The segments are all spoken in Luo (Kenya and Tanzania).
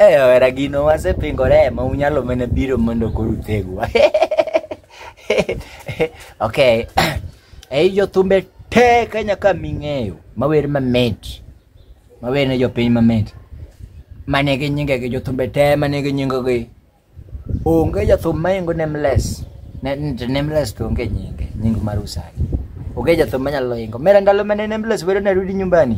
Eh, owera gino wasepingore ma unyalo mana biro mondo koro utegwa. okay. Ei jothumbe te Kenya ka ming'eyo mawer mamit. Mawer ne jopiny mamit. Mane gi nyinge gi jothumbe te mane gi nyinge gi. Onge jathum maingo nameless. Ne- ne- Nameless to onge nyinge, nying mar usagi. Onge jathum manyalo ingo. Mera ndalo mane nameless wero narudi nyumbani.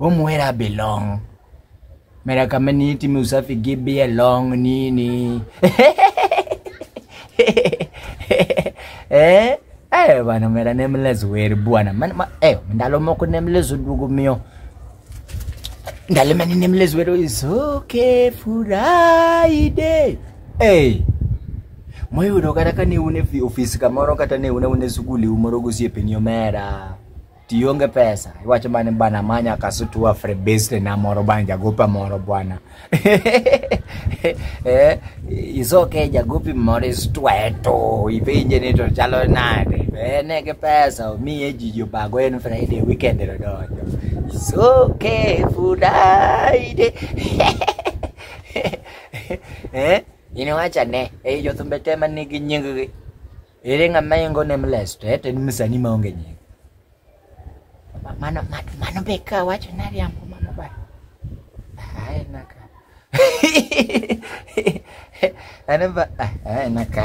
Omwera belong. Mera kama ni timi usafi gibi along nini. eh? Eh bana mera ne mlezo weri bwana. Man ma, eh ndalo moko ne mlezo dugo miyo. Ndalo mani ne mlezo weri is okay Friday. Eh. Moyudo kata ka ne une fi- ofis kamoro kata ne une une sukuli umoro gosiepeni omera. tionge pesa iwacho mane bana manya kasutua frebeste na moro bana jagopa moro bwana eh, isoke jagopi moro istweto ipenje ni to chalo nade ene gi pesa omiye ji jobago en friday weekend ero donjo isoke friday eh, iniwacha ne ei jothumbe te ma nigi nyinggi Ere ng'ama ingo nameless to ete ni msanii maonge nying. Ma- Mano ma- mano be ka wacho nariambo mano ba. Ai naka. Ana ba ai naka.